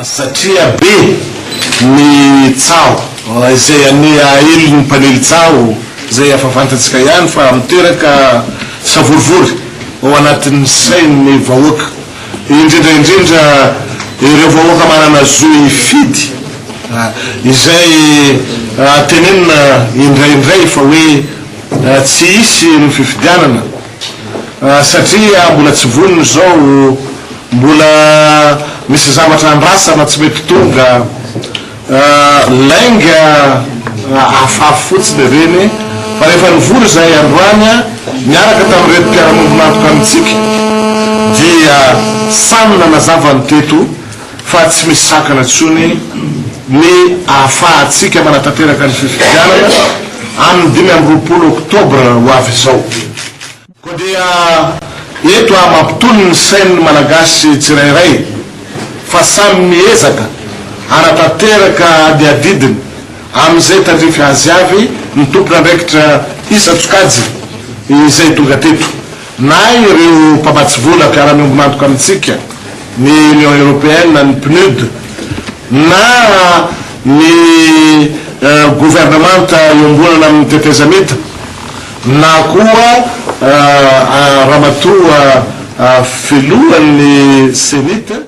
satria be ny tsaho izay anie aely ny mpanely tsaho izay efa fantatsika ihany fa miteraka savorovoro ao anatin'ny sain'ny vahoaka. indrindra indrindra ireo vahoaka manana zo hifidy, izay tenenina indraindray fa hoe tsy hisy ny fifidianana satria mbola tsy vonona izao, mbola misy zavatra andrasana tsy mety tonga. Lainga afafy fotsiny ireny fa rehefa nivory izahay androany niaraka tamin'ireto mpiara-miombon'antoka amintsika dia samy nanazava ny teto fa tsy misy sakana intsony ny ahafahantsika manatanteraka ny fifidianana amin'ny dimy amby roapolo oktobra ho avy izao. Koa dia eto aho mampitony ny sain'ny Malagasy tsirairay fa samy miezaka hanatanteraka adiadidiny amin'izay tandrify azy avy ny tompon'andraikitra isan-tsokajy izay tonga teto, na ireo mpamatsy vola mpiara-miombon'antoka amintsika, ny Union Européenne, ny PNUD, na ny governemanta iombonana amin'ny tetezamita na koa ramatoa filohan'ny Cenit.